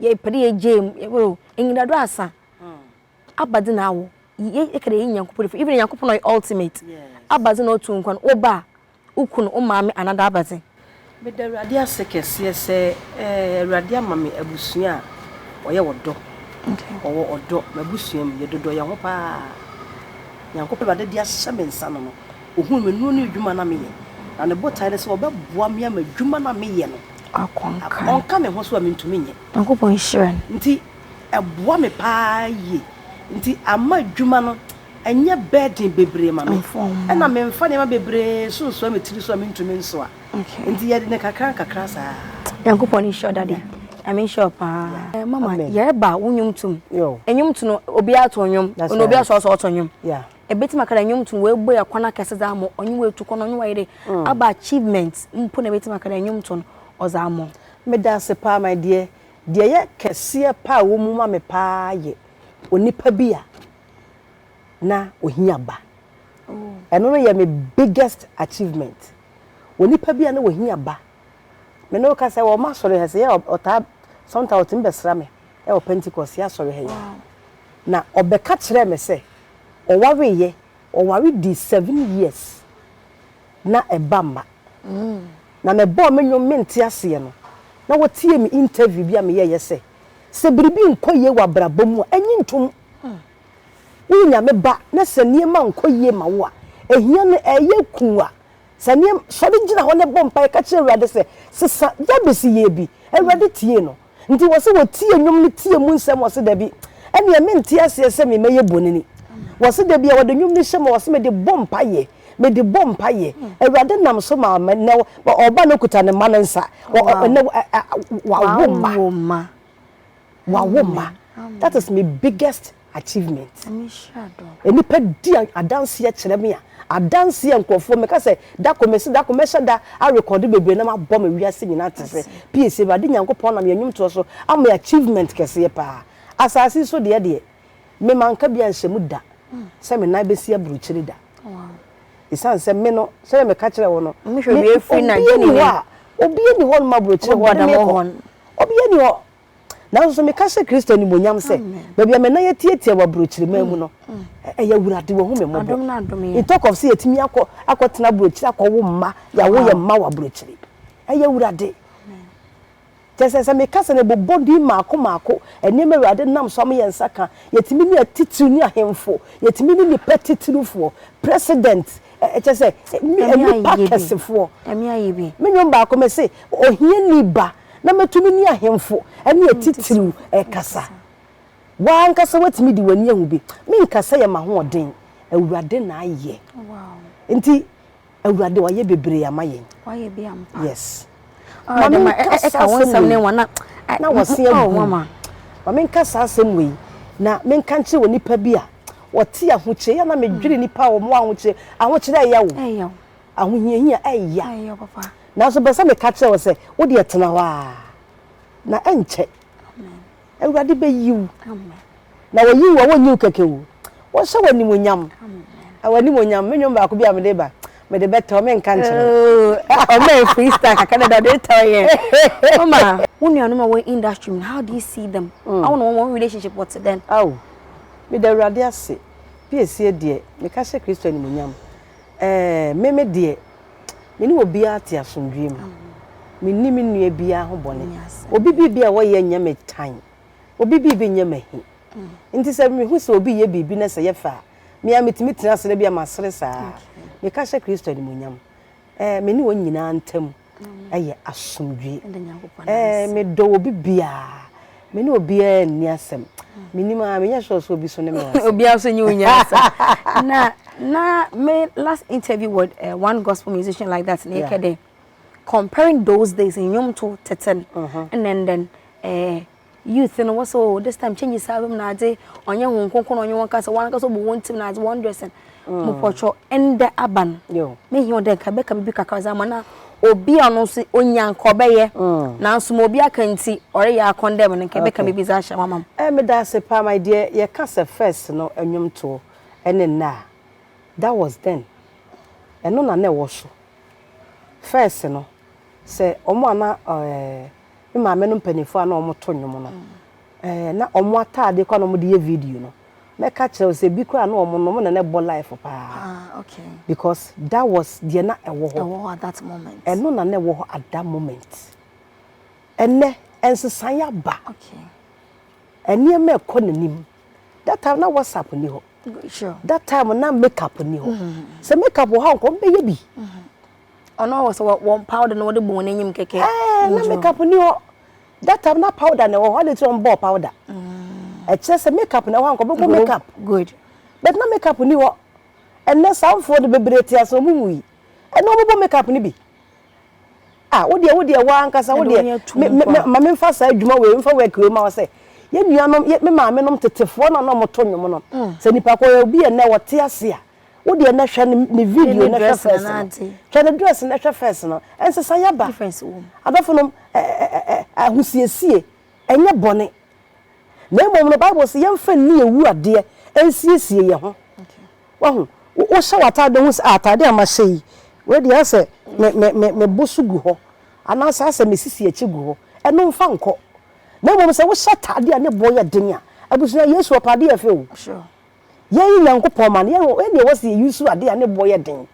yɛpɛ dɛ yɛgyaa mu yɛbɛ o enyidado asa aba dze na awɔ yɛka dɛ yɛnye Nyankopɔn dzi even Nyankopɔn a ɔyɛ ultimate aba dze na ɔtse wo nkwa no wo ba wo kun wo maame anaa daa aba dze. Meda Awurade ase kɛseɛ sɛ eh Awurade ama me abusua a wɔyɛ ɔdɔ wɔwɔ ɔdɔ m'abusua mu yɛdodɔ yɛn ho paa Nyankopɔn Awurade de ahyɛ me nsa no no ɔhunu me nnuro ne adwuma no a meyɛ na ne botaeɛ ne sɛ ɔbɛboa me ama adwuma no a meyɛ no Ɔnka me ho so a mentumi nyɛ. Nyankopɔn nhyira no. Nti ɛboa me paa yie. Nti ama adwuma no ɛnyɛ burden bebree ma me. Ɛna memfa nneɛma bebree so nsoa me tiri so a mentumi nsoa. Nti yɛde no kakra nkakra saa. Nyankopɔn nhyira wo daddy. Nyame nhyira wo paa. Mama yɛreba wo nnwom tom. Nnwom to no obiara to nnwom. Ɛna obiara soa sɛ ɔto nnwom. Ebetumi aka dɛ nnwom tum woebue akwan akɛse dze ama ɔnye wo etu kɔ na ɔnye wo ayɛ dɛ abɔ achievement mpo na ebetumi aka dɛ nnwom to no ɔdze ama wo. Meda ase paa my dear. Deɛ ɛyɛ kɛseɛ paa a ɛwɔ mu ma me paa yɛ onipa bi a na ɔhia ba. Ɛno no yɛ me biggest achievement. Onipa bi a na ɔhia ba. Me ne wo kasa wɔ ɔmo asɔre ha, sɛ yɛ a ɔtaa sometimes ɔtumi bɛsra me ɛwɔ Pentecost yɛ asɔre ha yi. Na ɔbɛka kyerɛɛ me sɛ ɔwaree yɛ, ɔware dii seven years na ɛba mma. Na me bɔɔ me nnwom me nte aseɛ no na wɔtiee me interview bi a me yɛɛyɛ sɛ, sɛ biribi nkɔ yie wɔ abrabɔ mu a ɛnye ntom. Woyɛ Nyame ba na sɛ nneɛma nkɔ yie ma wo a, ɛhia no ɛɛyɛ kuu a, Saa nneɛma, sɔre gyina hɔ ne bɔ mpaeɛ ka kyerɛ Awurade sɛ, sesa, Yabes yɛɛ bi, Awurade tiee no. Nti wɔse wɔtie nnwom no tie mu nsɛm wɔse dabi, ɛneɛ mente aseɛ sɛ me mɛyɛ bonini. Wɔse dabi a wɔde nnwom no hyɛ mu a wɔse mede bɔ mpaeɛ, mede bɔ mpaeɛ, Awurade nam so maa me, nnɛ ɔba no kuta ne mma no nsa, ɔnnɛ wawo mma. wawo mma that is my biggest achievement nnipa di adanseɛ kyerɛ me a adanseɛ nkurɔfoɔ meka sɛ dako mese dako mɛhyɛ da arekɔde bebree na mabɔ me wiase nyinaa te sɛ piese awurade nyankopɔn nam yɛn nnwomtoɔ so ama achievement kɛseɛ paa asase so deɛ deɛ me manka bi anhyɛ mu da sɛ me nan bɛsi aburukyiri da ɛsiane sɛ me no sɛdeɛ meka kyerɛ wo no obiɛ ni hɔ a obiɛ ni hɔ no ma aburukyiri hɔ ne mekɔ obiɛ ni hɔ Nanso so meka hyɛ Kristo animuonyam sɛ baabi a me nan atiatia wɔ aburokyire man mu no, ɛyɛ Awurade wahu me mmɔbɔ. In talk of sɛ yɛtumi akɔ akɔtena aburokyire akɔwo mma, yɛawo yɛn mma wɔ aburokyire. Ɛyɛ Awurade. Kyɛ sɛ sɛ meka sɛ no bobɔ din maako maako, nneɛma Awurade nam so ama yɛn nsa ka, yɛtumi ne atitiriw ne ahemfo, yɛtumi ne nnipa titirifoɔ, president, kyɛ sɛ nnipa kɛsefoɔ. Me nnwom baako mese, ohiani ba na mɛtumi ne ahemfo ne atitiriw rekasa. Wo ara ankasa woatumi de w'ani ahu bi. Menka sɛ yɛ m'ahoɔden, Awurade na ayɛ. Nti, Awurade, wayɛ bebree ama yɛn. Wayɛ bi ampa. Yes. Ma menkasa asɛm wei. Na wɔse agu. Ma menkasa asɛm wei. Na menka nkyerɛ wɔ nipa bi a wɔte ahokyere yɛ na medwere nipa a wɔn ahokyere ahokyere ɛyɛ wo. ahohiahia ɛya. Nanso mepɛ sɛ meka kyerɛ wo sɛ, wo deɛ tena hɔ ara, na ɛnkyɛ Awurade bɛyi wo. Na wɔyi wo a, wɔnyi wo kɛkɛ o. Wɔhyɛ wo animuonyam. Ɛwɔ animuonyam. Me nnwom baako bi a mede ba, mede bɛtɔ, menka nkyerɛ wo. Ɔma yɛ freestyle kakra dada, ɔde retɔ yɛn. Mama, wo nuanom a wɔn industry mu, how do you see them? Awo na wɔn relationship wɔte dɛn? Awo, meda Awurade ase. Piesie deɛ, meka hyɛ Kristo animuonyam. Ɛɛ, me me deɛ, me ne obiara te asomdwoeɛ mu. Menni me nua biara ho bɔne. Obi biribi a ɔyɛ nyɛ me tan. Obi biribi nyɛ m'ahi. Nti sɛ mehu sɛ obi reyɛ biribi na sɛ ɛyɛ fɛ a, me ara metumi tena ase na ebia masere saa ara. Meka hyɛ Kristo animuonyam. Ɛɛ, me ne wɔn nyinaa ntam ɛyɛ asomdwie ɛɛ medɔ obi biara me ne obiara nni asɛm menim a menyɛ sure sɛ obi so ne me wɔ asɛm obiara so nye wo nya asɛm na na me last interview with uh, one gospel musician like that na yɛkɛ dɛ comparing those days nnwom to tete no ɛnɛ ndɛn ɛɛ Youth no wɔsɛ oh this time changes aba mu na adze, ɔnnyɛ hɔn nkonko na ɔnye hɔn kasa, hɔn ankasa wɔbɔ hɔn tsir na adze, hɔn dressing. Mopɔkyɛw, ndɛ aba no, mehia wo dɛ nka ebɛka biribi kakra dze ama na obi a ɔno so onya nka ɔbɛyɛ, naaso ma obi aka ntsi ɔreyɛ akɔndɛm no, nka ebɛka biribi dze ahyɛ hɔ ama me. Eh, meda ase paa, my dear, yɛka sɛ first no nnwomtoɔ ne nnɛ a, that was then, ɛno na na ɛwɔ so, first no, sɛ wɔn a na eh, me maame no mpanyinfoɔ a na wɔn to nnwom no ɛɛ na wɔn ataadeɛ kɔ na wɔn de yɛ video no mɛka kyerɛ wo sɛ ebi koraa na wɔn no wɔn na na ɛbɔ life paa ah, okay. because that was deɛ na ɛwɔ hɔ ɛwɔ hɔ at that moment ɛno na na ɛwɔ hɔ at that moment ɛnɛ ɛnsesan yɛ aba okay. ɛnneɛma ɛkɔ n'anim that time na whatsapp ni hɔ sure. that time na makeup ni hɔ mm-hmm. sɛ makeup wɔ hɔ a nkɔm bɛyɛ bi. Mm-hmm. Ɔno wɔ sɛ wɔn powder na wɔde bɔ wɔn anim kɛkɛ. Ɛɛ na makeup ni hɔ. That time na powder na ɛwɔ hɔ adi ti wɔn bɔɔ powder. Mm. Ɛkyerɛ sɛ makeup na ɛwɔ hɔ anka ɔbɛbɔ makeup. Good. But na makeup ni hɔ. Ɛnɛ saa mfoɔ de bebree te ase wɔn mu yi. Ɛnɛ wɔn bɔ makeup ni bi. Ah wo deɛ wo deɛ wɔn ankasa wo deɛ me me maame nfa saa adwuma wei nfa work wei ma wɔ sɛ yɛ nuanom yɛ me maame nom tetefoɔ na na wɔn to nnwom nom. Mm. Sɛ nipa kɔ yɛ obi yɛ nɛ wɔte ase a. wo deɛ na hwɛ ne video na hwɛ first no hwɛ ne dress na hwɛ first no ɛnsesa yɛ ba adɔfo nom ahosiesie ɛnyɛ bɔne na mmom no bible sɛ yɛmfa nni ewu adeɛ ɛnsiesie yɛ ho wahu wohyɛ w'ataade ho sɛ ataade a mahyɛ yi wei deɛ asɛ mebo so gu hɔ anaasɛ asɛ mesisi akyi gu hɔ ɛno mfa nkɔ na mmom sɛ wohyɛ ataade a ne boɔ yɛ den a abusua yesu ɔpɛ adeɛ ɛfɛ o Yɛn Nyankopɔn mma no, yɛn yɛn deɛ wɔsi yɛ use adeɛ a ne boɔ yɛ den.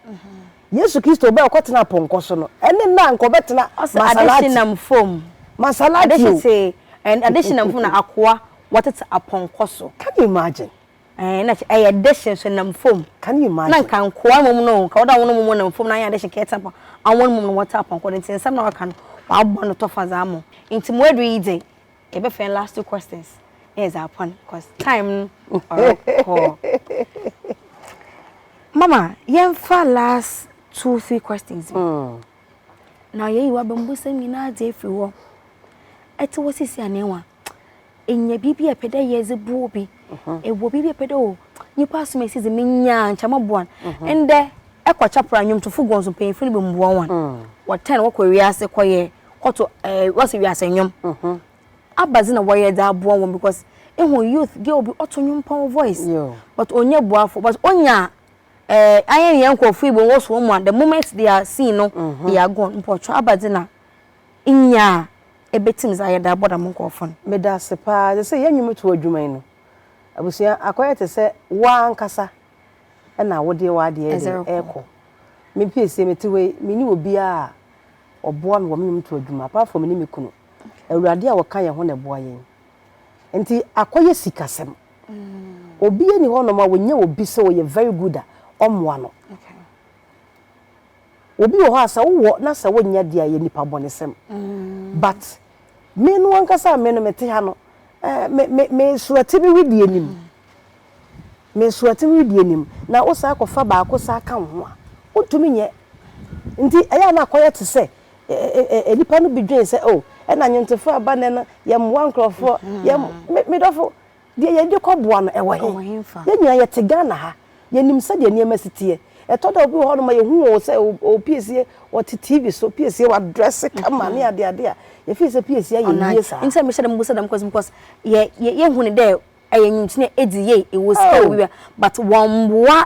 Yesu Kristo ɔbaa ɔkɔ tena pɔnkɔ so no, ɛne nna a nka ɔbɛtena Masalati. Masalati o. And additional mfom na akoa wɔtete apɔnkɔ so. Can you imagine? Eh, na ɛyɛ addition so nam fam. Can you imagine? Na nka nkoa mmom no, nka wɔde wɔn mmom nam fam na ayɛ addition ka ɛte apɔnkɔ. Awon mmom no wɔte apɔnkɔ no nti nsɛm na wɔaka no wɔabɔ no tɔfa dza mo. Nti mo aduru yi dze, Yɛ bɛ fɛn last two questions na yɛ dza apɔn cause time no ɔrɔ kɔ. Mama yɛn fa last two three questions bi. Mm. Na yɛ yi wa bɛn busɛm nyinaa dze efiri hɔ. Ɛte wɔ sisi anɛwa. Enyɛ biribi a ɛpɛ dɛ yɛ dze bu obi. Mhm. Ewɔ biribi a ɛpɛ dɛ o nipa asom esi dze menyaa nkyɛ mo boa no. Mhm. Ndɛ ɛkɔ kyapra nwomtofo guɔnso mpanyinfo no bɛ mboa wɔn. Mm. Wɔtɛn wɔkɔ wiase kɔ yɛ. kɔto ɛɛ eh, wɔsi wiase nnwom. Mhm. Abadze na wɔyɛ dze aboa hɔn because ehu youth girl bi ɔto nnwom pɔn voice but onnya buafo but onya ɛɛ eh, ayɛ yɛn nkorɔfo yi bi wɔwɔ so wɔn mu a the moment they are seen no mhm. they are gone mpɔtɔ abadze na nyaa ebetumi dze ayɛ dze abɔ dɛm nkorɔfo no. Meda ase paa dze sɛ yɛn nnwom to adwuma yi no abusua akɔyɛ te sɛ wɔn ankasa. ɛna wo deɛ w'adeɛ de ɛkɔ me pie sie me te wei me ni obiara ɔboa me wɔ me nnwom to adwuma apart from me ne me kunu awurade a wɔka yɛn ho na ɛboa yɛn nti akɔyɛ sikasɛm mm. obi ani hɔ nom a wɔnyɛ obi sɛ ɔyɛ very good a ɔmmoa no obi wɔ hɔ a sɛ wowɔ na sɛ wonyɛ deɛ a yɛ nipa bɔnesɛm mm. but me no ankasa me no mete ha no eh, me me me surati bi wi deɛ nim mm. Me nsoɔten redi anim, na wosan kɔfa baako san ka wo ho a, wontumi nyɛ. Nti ɛyɛ a na akɔyɛ te sɛ nnipa no bi dwene sɛ, oh, ɛna nnwontofoɔ a ɛba nnɛ no, yɛmmoa nkurɔfoɔ, yɛm, me, me dɔfo, deɛ yɛde kɔboa no, ɛwɔ he? Yɛn nyinaa yɛte Ghana ha, yɛnim sɛdeɛ nneɛma si teɛ. Ɛtɔ da a obi wɔ hɔnom a yɛhu wɔn sɛ ɔɔpiesie, ɔte TV so piesie, wadrɛse kama ne adeade a, yɛfeel sɛ piesie ayɛ yie saa. Nti na mehyɛ da mebusa dɛm question because yɛ, yɛ, yɛhu no dɛ ɛyɛ nyimkyene edzi yie ewɔ sika wɔ wia but wɔmmboa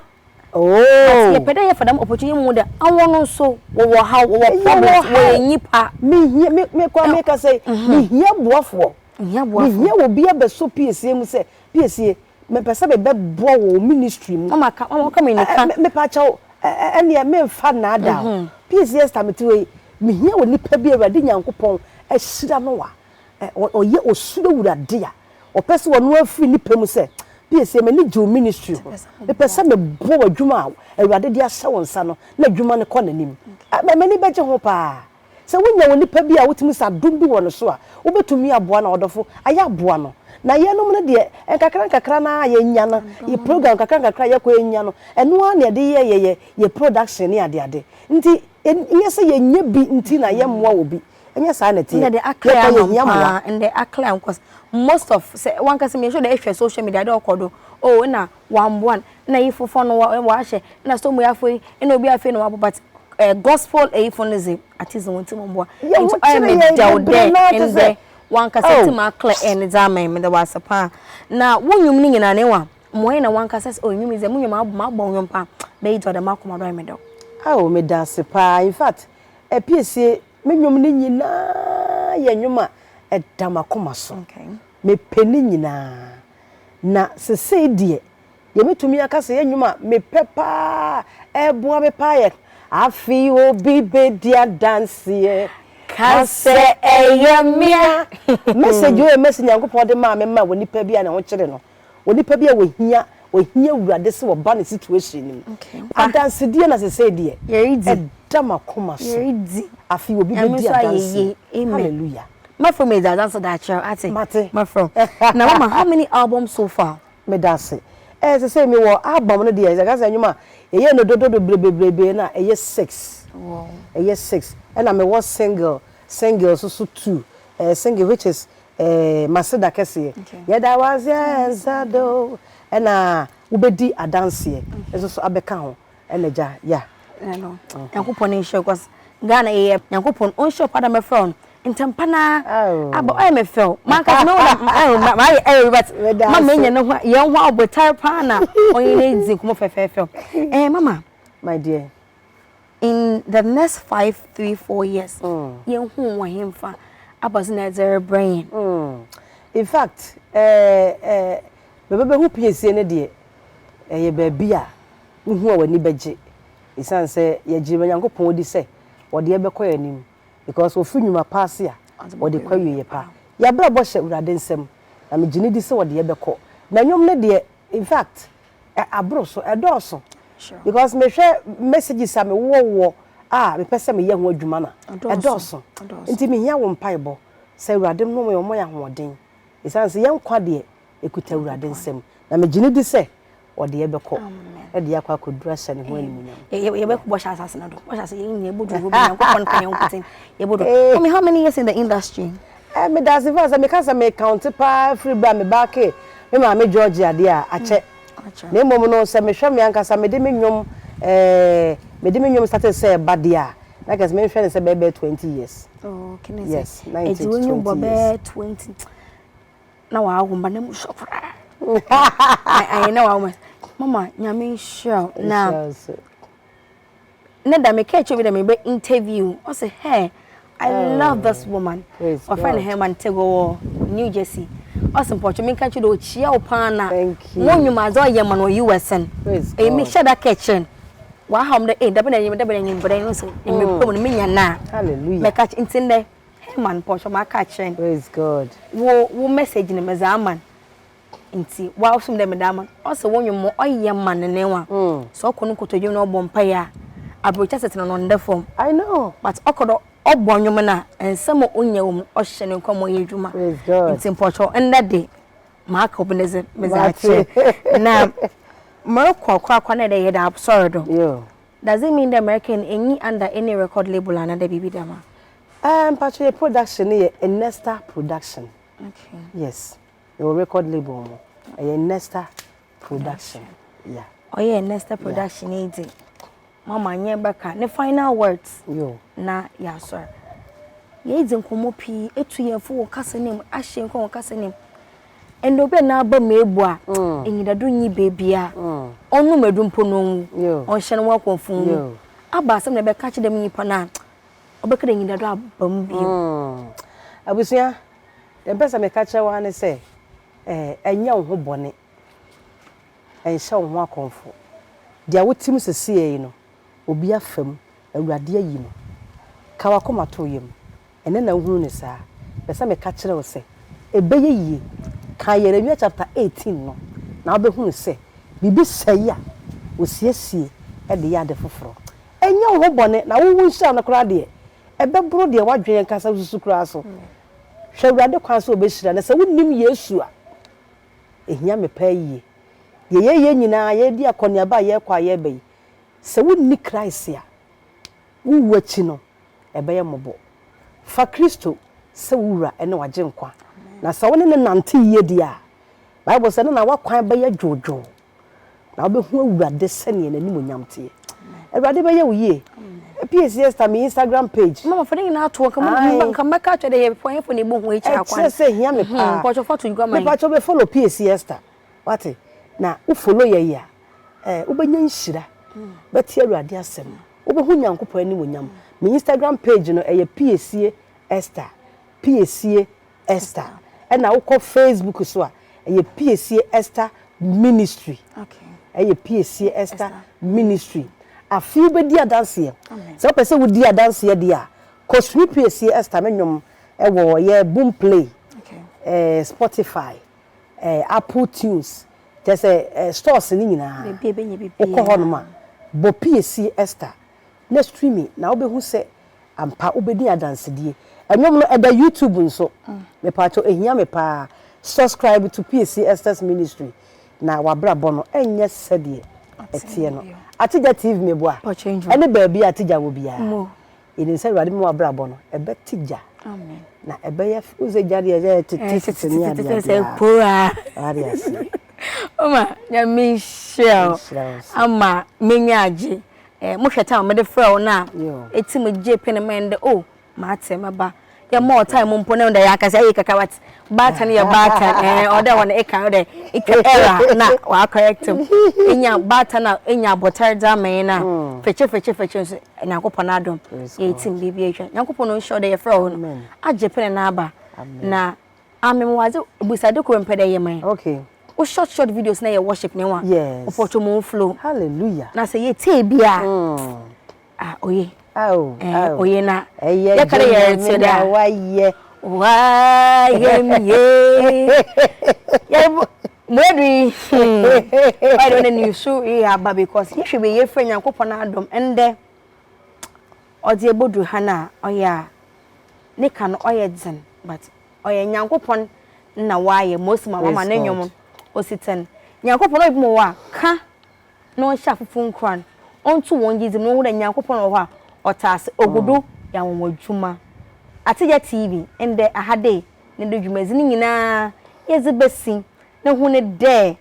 but yɛpɛ dɛ yɛfa dɛm opportunity mu dɛ awɔn no nso wɔwɔ haw wɔwɔ problems wɔyɛ nyipa. mehia me me koraa mekasa yi mehia boafoɔ mehia wɔ bi abɛsɔ piesie mu sɛ piesie mepɛ sɛ mebɛ boa wɔ wɔ ministry mu ɛɛ mepakyɛw ɛneɛ menfa nnaada o piesie Esther mete hɔ yi mehia wɔ nipa bi awurade nyankopɔn ahyira no wa. ɛ ɔyɛ ɔsuro awurade a ɔpɛ sɛ ɔno ara firi ne pɛ mu sɛ psa m'ani gye wo ministry ho mepɛ sɛ mebɔ w'adwuma a awurade de ahyɛ wo nsa no na adwuma no kɔ n'anim a m'ani bɛgye ho paa sɛ wonya onipa bi a wotumi sɛ adom bi wɔ ne so a wobɛtumi aboa no a ɔdɔfo ayɛ aboa no na yɛnom no deɛ nkakra nkakra no ara a yɛnya no yɛ program nkakra nkakra a yɛkɔ yɛnya no ɛno ara na yɛde yɛ yɛyɛ yɛ production ne adeade nti ɛnyɛ sɛ yɛnya bi nti na yɛmmoa obi ɛnyɛ saa na ɛteɛ yɛkɔ yɛhia mmoa ɛndɛ akla ɛho kɔs most of sɛ wankasa mmiɛnso dɛ ɛhwɛ social media dɛ ɔkɔ do o oh, ɛna wamboa no ɛna yi fofo no wahyɛ ɛna so mu yɛafo yi ɛna obi afei na wabɔ but eh, gospel eyifo no dze ate dze wɔn ti mu mboa nti ɔyɛ me dɛw dɛ ɛndɛ wankasa oh. ti mu akla ɛn dze ama yi meda wase paa na wo nnwom no nyinaa na ɛwa mmoa yi na wankasa sɛ ɔnwom yi dze mo nnwom abɔ nnwom paa bɛyi dɔ dɛ makoma dɔ ayɛ me dɛw. awo meda ase paa in fact Ɛpiesie, me nnwom no nyinaa yɛ nnwom a ɛda m'akoma so. Mepɛ ne nyinaa. Na sesei deɛ, deɛ mɛtumi aka sɛ ɛyɛ nnwom a mepɛ pa ara, ɛboa me pa ara yɛ, Afei obi bɛdi adanseɛ ka sɛ ɛyɛ me a. Message o, ɛyɛ message Nyankopɔn de maa me ma wɔ nipa bi a ne ho kyere no. Onipa bi a ohia ohia awurade sɛ ɔba ne situation no mu. Adansedie na sesei deɛ ɛda makoma so. Afei obi bɛdi adanseɛ. Hallelujah. Mafro me da adanse da akyerɛ ate. Mate. Mafro. Na mama how many albums so far? Me da ase. Eh sesei me wɔ album no deɛ ɛka sɛ nnwom a yɛyɛ no dodo bebree bebree bebree no a ɛyɛ six. Ɛyɛ six. Ɛna me wɔ single single nso so two. Eh single which is eh, Maseda kɛseɛ. Yɛda wase a ɛnsa do. Ɛna wobɛdi adanseɛ nso so abɛka ho. Ɛna gya, ya. Ɛno, Nyankopɔn ne nhyɛ kɔs. Ghana yɛ Nyankopɔn ɔnhyɛ ɔkwa da mɛfrɛ ɔn ntɛmpa na aba ɔyɛ me fɛw manka me woda mayɛ ɛyɛ but ma menya ne ho yɛn ho abotare paa na ɔyɛ ne dzi nkɔmɔ fɛfɛɛfɛ ɛɛ mama my dear in the next five three four years mm. yɛn hu wɔ he nfa abɔdze na ɛdze rebrɛ yɛn. Mm. in fact ɛɛ ɛɛ bɛbɛbɛhu piesie no deɛ ɛyɛ baabi a wohu a w'ani bɛgye ɛsiane sɛ yɛgye nyankopɔn di sɛ wɔde ɛbɛkɔ yɛn anim because wɔfiri nnwuma pa ase a wɔde kɔ awieɛ pa yɛabrabɔ hyɛ awurade nsɛm na megye ne di sɛ wɔde ɛbɛkɔ na nnwom no deɛ in fact Aboro so, ɛdɔɔso because me hwɛ messages a me wɔ wɔ a me pɛ sɛ me yɛ ho adwuma na ɛdɔɔso nti me hia wo mpae bɔ sɛ awurade nom yɛ ɔmɔ yɛ ahoɔden ɛsan sɛ yɛn kwa deɛ ɛkuta awurade nsam na me gyene di sɛ ɔde yɛ bɛkɔ ɛde yɛ akɔ akɔ dura hyɛ ne ho anim nyam yɛ bɛkɔ bɔ hyɛ asase na do bɔ hyɛ asase yɛ nyɛ bɔ duro bɛ yɛ nkɔ pɔn kan yɛ nkɔ ten yɛ bɔ duro how many years in the industry Eh, meda ase fa sɛ meka sɛ mekaunte paa firi berɛ a me ba kee me maame Georgia deɛ a, akyɛ. Na mmom no, sɛ mehwɛ me ankasa mede me nnwom eh, mede me nnwom started sɛ ɛba deɛ a, na kɛse menhwɛ no sɛ bɛyɛ bɛyɛ twenty years. Oh, kene sɛ. Yes, na nti twenty years. Ɛdi wɔn bɛyɛ twenty. Na wɔawo mba na mu sɔ koraa. Ayɛ na wɔawo mba. Mama, nyame nhyira wo. Na ne da meka akyerɛ bi dɛ mebɛ interview ɔse hɛɛ I love this woman wɔfrɛ no Herman Tego wɔ New Jersey ɔse mpɔtwe menka kyerɛ dɛ ɔkyia wo paa na mo nnwuma adze ɔyɛ ma no wɔ US no ɛyi mehyɛ da ka kyerɛ no wahaw m dɛ ee dabɛn anwummerɛ dabɛn anwummerɛ no so ne mepɛ mu no menya no a mɛka kyerɛ nti ndɛ Herman mpɔtwe maka akyerɛ no wo message no medze ama no nti wasom dɛ meda ama no ɔsɛ wo nwom ɔyɛ ma ne newa sɛ ɔkɔ no nkotodwe na ɔbɔ mpae a abrotwa setena no ɔnda fam but ɔkɔ do ɔbɔ nwom no a nsɛm a onya wɔ mu no ɔhyɛ ne nkwa mu ɔyɛ adwuma nti mpɔkyɛw ndɛ de maka obi ne dze medze akyerɛ na morokɔ korakora na dɛ yɛda asɔr do doesn't mean dɛ mɛka no nnyi under any record label anaa dɛ biribi dɛm a. Ɛɛ mpatwɔ yɛ production no yɛ Ernesta production yes. Mewɔ record label mu. Ɛyɛ Nesta production. Yeah. Ɔyɛ Nesta production yi di. Mama nyɛ bɛka ne final words. Yo. Na yɛasɔre. Yɛdzi nkɔmmɔ pii etu yɛn fo wɔ kasa no mu ahyɛ nkɔn wɔ kasa no mu. Ɛnna obi a n'aba mu ebu a enyidado nyi beebi a ɔnnom adu mpo na onwu. Ɔnhyɛ no ho akɔmfo nwu. Aba asɛm na ɛbɛka akyerɛ dɛm nyimpa no a ɔbɛka dɛ enyidado aba mu bio. Abusua, Deɛ mpɛ sɛ meka kyerɛ wo ara ne sɛ, eh, nyɛ wo ho bɔne, nhyɛ wo ho akɔmfo. Deɛ wote mu seseɛ yi no, obi afa mu, Awurade ayi no. Ka w'akoma to wo yam. Ɛnnɛ na wohunu no saa. Mepɛ sɛ meka kyerɛ wo sɛ, ɛbɛyɛ yie. Kan Yeremia chapter eighteen no, na wobɛhunu sɛ biribi sɛe a, wɔsiesie de yɛ ade foforɔ. Nyɛ wo ho bɔne, na wo wo nhyira no koraa deɛ, ɛbɛboro deɛ w'adwene ankasa susu koraa so. Hwɛ Awurade kwan sɛ ɔbɛhyira. Na sɛ wonnim Yesu a, ɛhia me paa yie. Deɛ yɛreyɛ nyinaa, yɛredi akɔneaba a yɛrekɔ a yɛreba yi, sɛ wonni Christ a, wowu akyi no, ɛbɛyɛ mmɔbɔ. Fa Kristo sɛ wo Wura ne w'Agyenkwa. Na sɛ wone no nante yie deɛ a, Bible sɛ, ne na w'akwan bɛyɛ dwoodwoo. Na wobɛhu Awurade sɛdeɛ n'animuonyam teɛ. Awurade bɛyɛ wo yie. Pies Esther me Instagram page. Mama fo ne nyinaa to nka mo nka mɛka kyerɛ dɛ yɛ pɔ yɛ fo na ebo ho ekyir akwa. Ɛkyerɛ sɛ hia me paa. Hmm, pɔtɔ foto gua man. Me pɔtɔ be follow Pies Esther. Wate? Na wo follow yɛ yɛ a, eh, wobɛnya nhyira. Hmm. Bɛte Awurade asɛm. Wobɛhu Nyankopɔn anim onyam. Me Instagram page no ɛyɛ Piesie Esther. Piesie Esther ɛna wokɔ Facebook so a ɛyɛ Piesie Esther Ministry ɛyɛ Piesie Esther Ministry afei wobɛdi adanseɛ sɛ wopɛ sɛ wodi adanseɛ deɛ a kɔsua Piesie Esther no nnwom ɛwɔ yɛ boom play eh, Spotify eh, Apple Tunes kyɛ sɛ eh, stores no nyinaa wokɔ hɔ nom a bɔ Piesie Esther na streaming na wobɛhu sɛ ampa wobɛdi adansedie. Ɛnwom no ɛda YouTube nso. Mepaakyɛw ɛhia me paa. Subscribe to PAC Esther's ministry na wabrabɔ no ɛnyɛ sɛdeɛ ɛteɛ no. Atija TV meboa ɛne baabi a Atija wɔ biara. Yɛnim sɛ Awurade bɛma wabrabɔ no ɛbɛtija na ɛbɛyɛ wohu sɛ gya deɛ ɛyɛ titititi ne adeadeɛ paa. Wade aseɛ. Oma nyame nhyira wo ama menya agye. Eh, mo hwɛ time mede frɛ wo na eti mo gye pin ma ɛndɛ oh mate ma ba yɛ mo time mo mpo na ɛndɛ yɛ akasa yɛ kaka wat baatan yɛ baatan eh ɔdɛ wɔn eka ɔdɛ etwa era na wa correct mu enya baatan na enya abɔtare dza ama yɛn na fɛkyɛ fɛkyɛ fɛkyɛ nso nyankopɔn adom yɛ eti mo biribi atwa nyankopɔn no nhyɛ ɔdɛ yɛ frɛ wo no agye pin na aba na Ah me mewɔ adze ebusade kor mepɛ dɛ eyɛ ma yɛn. Wo short short videos na yɛ worship nye hɔn. Wo pɔtwɔmɔ wo flow. Hallelujah. Na sɛ yɛtsie bi a ah oye. Ao ao. Oye na yɛka dɛ yɛretse dɛ a. Ɛyɛ Nyame na wayɛ. Wayɛ me ye. Yɛrebo Mwedu yi hmm ɔyɛ dɛ ɔnɛ nusu reyɛ aba because yɛhwɛ wie a yɛfrɛ Nyankopɔn adom ndɛ. Ɔdze ebodur ha no a ɔyɛ a ne ka no ɔyɛ dzen but ɔyɛ Nyankopɔn na ɔayɛ ma osi ma ɔama no nwom osi tsen. Nyankopɔn ɔyɛ binom wɔ hɔ a kã na ɔnhyɛ afofor nkuran, ɔnnto hɔn gyedzi mu na wohu dɛ Nyankopɔn wɔ hɔ a ɔtse ase, ogu do yɛ anwanwa dwuma. Atsegya TV ndɛ Ahadei no do dwumadzi no nyina yɛdze besi no hu no dɛ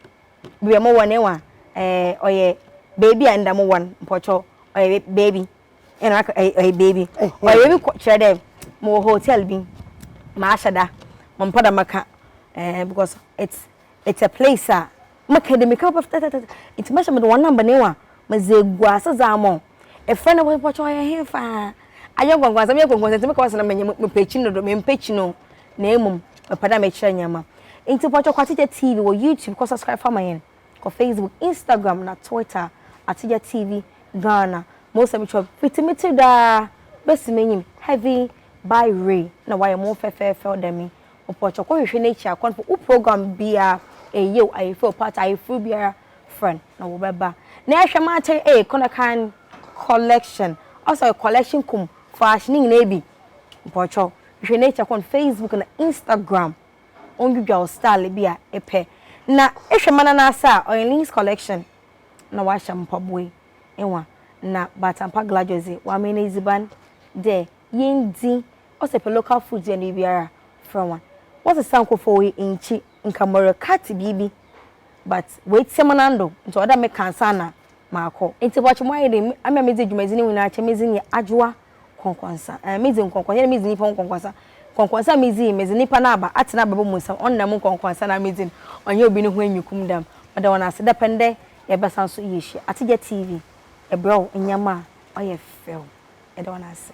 Bia mo wɔ ne wa eh, ɔyɛ baabi a nda mo wɔ no mpɔtɔ ɔyɛ baabi ɛna aka ɔyɛ baabi ɔyɛ baabi kɔ kyerɛ dɛ mo wɔ hotel bi ma ahyɛ da mo mpɛ dɛ mo ka eh, because it's it's a place a mo ka de mo ka papa tɛtɛtɛtɛ nti mo hyɛ mo de wɔn namba ne wa mo dze egu ase dze ama wɔn efrɛ no mpɔtɔ ɔyɛ he faa ayɛ nkɔnkɔnsɛm yɛ nkɔnkɔnsɛm nti mo ka wɔn sɛ na mo nyɛ mo pɛ kyi no do mo mpɛ kyi no. na mmom mepɛ dɛ mekyerɛ ndzɛmba. Ntsi mpɔkyɛw kɔ Atsegya TV wɔ YouTube kɔ subscribe fa ma hɛn, kɔ Facebook, Instagram na Twitter Atsegya TV Ghana. Mo nsɛm kyerɛw me fitsi me tsir do ara besi m'enyim Heavy by Ray na wɔayɛ mo ho fɛfɛɛfɛw dɛ me. Mpɔkyɛw kɔ hwehwɛ n'ekyir a kɔ no wo program biara eye yeo aye fɛw paa tse ayefor biara frɛ no na wɔbɛba na yɛhwɛ ma akyɛr eye kɔ na kan collection ɔsɛ ɔyɛ collection kum fash ne nyinaa bi. Mpawokyɛw hwɛ nature kɔ no Facebook na Instagram ɔndwidwa wo style bi a epɛ na ehwɛ ma nanase a ɔyɛ Links collection na wahyɛ mpaboe nwa na Batampa Gladjos dze wamee no edziban dɛ yendzi ɔsɛ pɛ local foods yɛn biribiara frɛ hɔn wɔsesa nkofo oye nnkyi nka mɔrɛ cut biribi but woetsia mu nando ntsi ɔwɔ dɛ meka ansaana makɔ. Ntsi bɔkye moayɛ dɛn? Ame a medzi dwumadzi no nyinaa kyɛ medzi nye Adwoa nkɔnkɔnsa. Ɛɛ, midzi nkɔnkɔnsa na midzi nyimpa ho nkɔnkɔnsa. Nkɔnkɔnsa a midzi yi, medze nyimpa no aba atsena abrabɔ mu nsɛm. Ɔnnam nkɔnkɔnsa no a midzi no, ɔnnyɛ obi no ho enyikum da mu. Meda hɔn ase dapɛn dɛ yɛbɛsan so yeehyia. Atsegia TV, yɛbrɛ wo ndzɛmba a ɔyɛ fɛw. Yɛda hɔn ase.